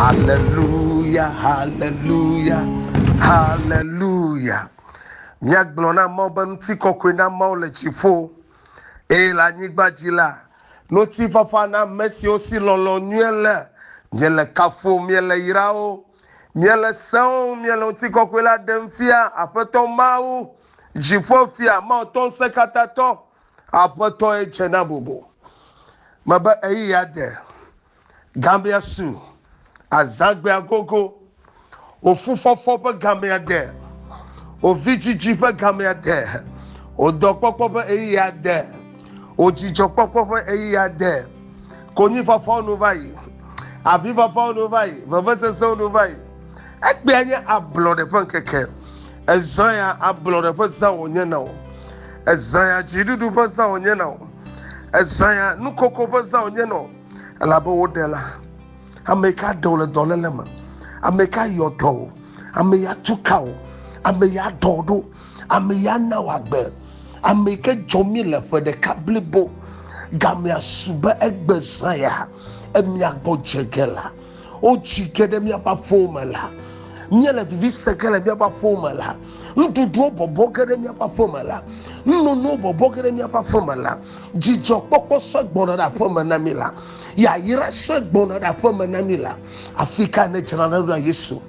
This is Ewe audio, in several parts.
Haleluya, haleluya, haleluya. Míagblɔ na Mawu be ŋutikɔkɔe na Mawu le dziƒo eye le anyigba dzi la, ŋutifafa na ame siwo si lɔlɔ̃ nyuie le. Míele kafuwò, míele yrawò, míele sẽwò, míele ŋutikɔkɔe la ɖem fia, Aƒetɔ Mawu, Dziƒofia, Mawu tɔ ŋusẽkatãtɔ, Aƒetɔ ye dze na bubu. Mebe ɣeyiɣia de. Gamea su, azãgbea gogo, wò fufɔfɔ ƒe gamea de, wò vidzidzi ƒe gamea de, wò dɔkpɔkpɔ ƒe ɣeyiɣia de, wò dzidzɔkpɔkpɔ ƒe ɣeyiɣia de. Konyifafawo nu va yi, avifafawo nu va yi, vevesesewo nu va yi. Egbea nye ablɔɖe ƒe ŋkeke. Ezã ya ablɔɖe ƒe zã wònye na wò. Ezã ya dziɖuɖu ƒe zã wònye na wò. Ezã ya nukoko ƒe zã wònye na wò. elabe woɖe la ame ka ɖe wò le dɔléle me ame ka yɔ dɔ wò ame ya tu ka wò ame ya dɔ wò ɖo ame ya na wò agbe ame ke dzɔ mi le ƒe ɖeka blibo gamea su be egbe zã ya emia gbɔ dze ge la Wotsi ke ɖe míaƒe aƒewo me la, míele vivi se ke le míaƒe aƒewo me la, nuɖuɖuwo bɔbɔ ke ɖe míaƒe aƒe me la, nunonowo bɔbɔ ke ɖe míaƒe aƒe me la, dzidzɔkpɔkpɔ sue gbɔna ɖe aƒe me na mí la, yayra sue gbɔna ɖe aƒe me na mí la. Afi ka nèdzra ɖo na Yesu?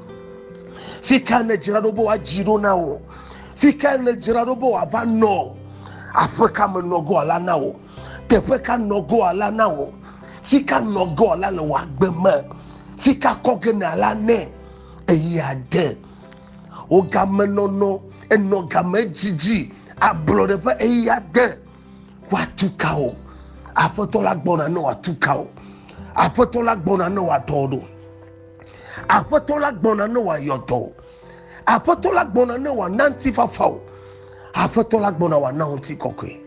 Fi ka nèdzra ɖo be woadzi ɖo na wò? Fi ka nèdzra ɖo be wòava nɔ aƒe ka me nɔ go la na wò? Teƒe ka nɔgoa la na wò? Fi ka nɔgoa la le wò agbe me? Fi ka kɔ ge na la nɛ eye ade wò gamenɔnɔ enɔ game didi ablɔɖe ƒe eye ade woatu ka wò? Aƒetɔ la gbɔna ne wòatu ka wò. Aƒetɔ la gbɔna ne wòaɖɔ wò ɖo. Aƒetɔ la gbɔna ne wòayɔ dɔ wò. Aƒetɔ la gbɔna ne wòana ŋutifafa wò. Aƒetɔ la gbɔna wòana wò ŋutikɔkɔe.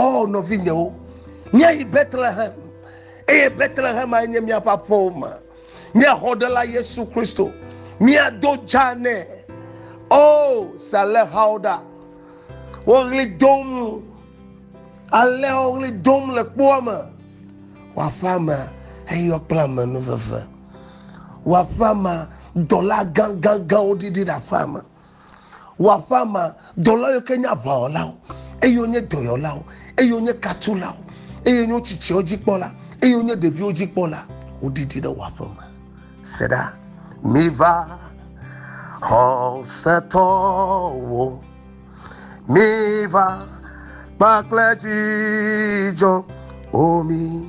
O nɔvinyewo, míayi Betlehem, eye Betlehem ae nye míaƒe aƒewo me. Nye xɔɖela Yesu Kristo, míado dza nɛ. O salexawo ɖa, woɣli dom, ale woɣli dom le kpoa me. Wɔaƒea me eyɔ kple amenuveve. Wɔaƒea me dɔla gãgãgãwo ɖiɖi ɖe aƒea me. Wò aƒea mea, dɔla yiwo ke nye aʋawɔlawo, eye wonye dɔyɔlawo, eye wonye katulawo, eye wonye wo tsitsiawo dzikpɔla, eye wonye ɖeviwo dzikpɔla, woɖiɖi ɖe wò aƒe me. Se ɖa. Miva, xɔsetɔwo, miva kpakple dzidzɔ, o mi.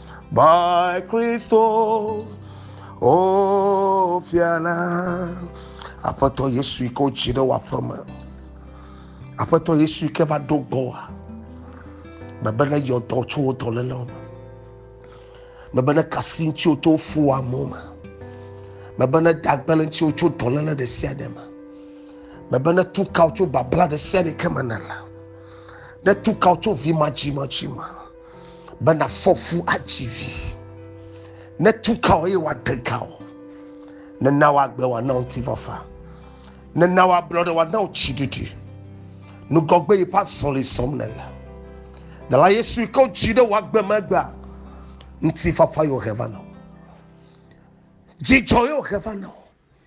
by Christo. Oh, Fiana. Aƒetɔ Yesu yi ke wotsi ɖe wòaƒe me. Aƒetɔ Yesu yi ke va ɖo gbɔ wa. Mebe ne yɔ dɔ tso wo dɔléle me. Mebe ne kasi ŋuti wo to fu wa mo me. Mebe ne dagbele ŋuti wo tso dɔléle ɖe sia ɖe me. Mebe ne tukawo tso babla ɖe sia ɖe ke me ne la. Ne tukawo tso vi ma dzi ma dzi ma. be nafɔ fu atsi vi ne tu ka o eye wòade ka o nena wòagbe wòana wo ŋutifafa nena wòablɔ ɖe wòana wo tsiɖiɖi nugɔgbe yi ƒe azɔli sɔm nele dela yesu yi ke wodzi ɖe wòagbe megbea ŋutifafa yewo he va na wo dzidzɔ yewo he va na wo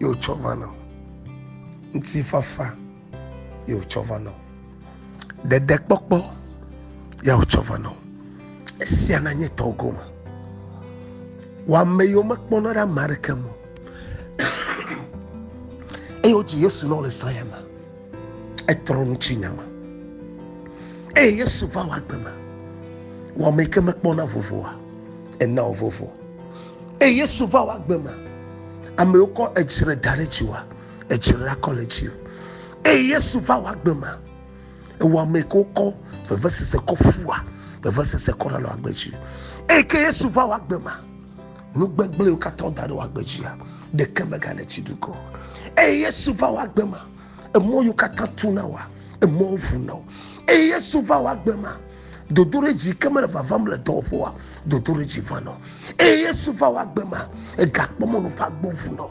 ye wòtsɔ va na wò. Ŋutifafa ye wòtsɔ va na wò. Ɖeɖekpɔkpɔ ye wòtsɔ va na wò. Esia nanye tɔwò gome. Wò ame yiwo mekpɔna ɖe ame aɖeke ŋu o. Eye wodzi Yesu na wò le saya me. Etrɔ nu tsi nya me. Eye Yesu va wò agbe me. Wò ame yi ke mekpɔna vovoa, ena wò vovo. Eye Yesu va wɔ agbe ma. Amewo kɔ edzre da ɖe dzi wa, edzre la kɔ le dzi. Eye Yesu va wɔ agbe ma. Ewɔ ame ko kɔ vevesese kɔ ƒua, vevesese kɔ ɖanɔ agbe dzi. Eye ke Yesu va wɔ agbe ma. Nu gbegblẽwo katã da ɖe wɔ agbe dzia, ɖeke megale tsi ɖugo. Eye Yesu va wɔ agbe ma. emɔ yiwo katã tu na wòa emɔ ʋu na wo eye yesu va wɔ agbe ma dodoɖedzi ke mele vavam le dɔwɔƒoa dodoɖedzi va nɔ eye yesu va wɔ agbe ma egakpɔ mɔnu ƒe agbo ʋu nɔ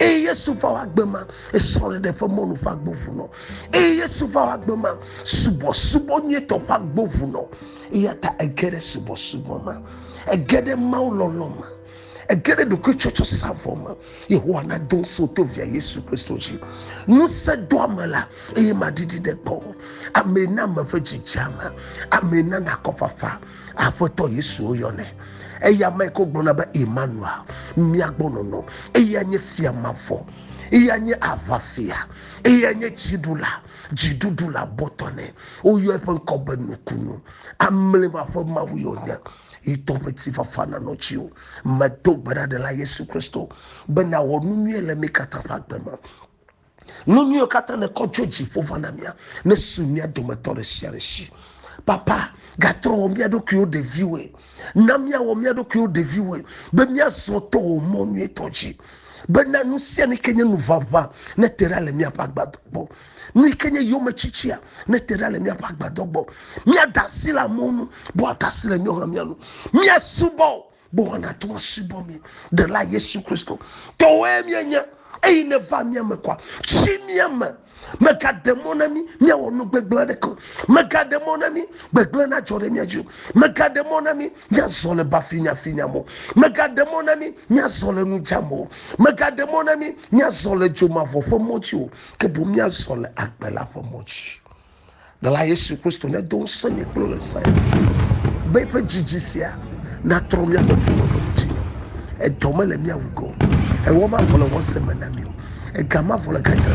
eye yesu va wɔ agbe ma esrɔ̃ɖeɖe ƒe mɔnu ƒe agbo ʋu nɔ eye yesu va wɔ agbe ma subɔsubɔ nyuitɔ ƒe agbo ʋu nɔ eya ta ege ɖe subɔsubɔ ma ege ɖe mawu lɔlɔ ma Ege ɖe ɖokuitsɔtsɔ sa vɔ me. Yehowa nado ŋusẽ wò to via Yesu Kristo dzi. Ŋusẽ doa me la eye maɖiɖi ɖe gbɔ. Amee na ame ƒe dzi dze ama. Amee na nakɔ fafa. Aƒetɔ Yesu woyɔnɛ. Eya mae ko gblɔna be Emmanuel, mía gbɔ nɔnɔ. Eya nye fia mavɔ. Eya nye aʋafia. Eya nye dziɖula, dziɖuɖula bɔtɔ nɛ. Woyɔ eƒe ŋkɔ be nukunu. Amlima ƒe Mawue wònye. yi tɔ ƒe tifafa nanɔ dziwò. Medo gbe ɖa, Ɖela Yesu Kristo, be nàwɔ nu nyui le mí katã ƒe agbe me. Nu nyuiwo katã nekɔ tso dziƒo va na mía, nesu mía dometɔ ɖe sia ɖe si. Papa, gatrɔ wɔ mía ɖokuiwo ɖeviwoe. Na míawɔ mía ɖokuiwo ɖeviwoe, be míazɔ to wò mɔ nyuitɔ dzi. Bena nu sia nu yi ke nye nu ʋaʋã nete ɖa le míaƒe agba gbɔ. Nu yi ke nye yometsitsia nete ɖa le míaƒe agbadɔ gbɔ. Míada asi le amewo nu, bo ada asi le míawo hã mía nu. Míasubɔ o, bo woanate ŋu asubɔ mí. Ɖela Yesu Kristo tɔwoe míenye. Eyi neva mía me kɔa, tsi mía me. Megaɖe mɔ na mí míawɔ nu gbegblẽ aɖeke o. Megaɖe mɔ na mí gbegblẽ nadzɔ ɖe mía dzi o. Megaɖe mɔ na mí míazɔ le bafinyafinya me o. Megaɖe mɔ na mí míazɔ le nu dzam o. Megaɖe mɔ na mí míazɔ le dzomavɔ ƒe mɔ dzi o. ke boŋ míazɔ le agbe la ƒe mɔ dzi. Ɖela Yesu Kristo nedo ŋusẽ nye kple le zã be eƒe dzidzi sia natrɔ míaƒe ƒome ƒe ŋuti me. Edɔ mele míawu go. Ewɔ mavɔ le wɔ se me na mí o. Ega mavɔ le gadzra.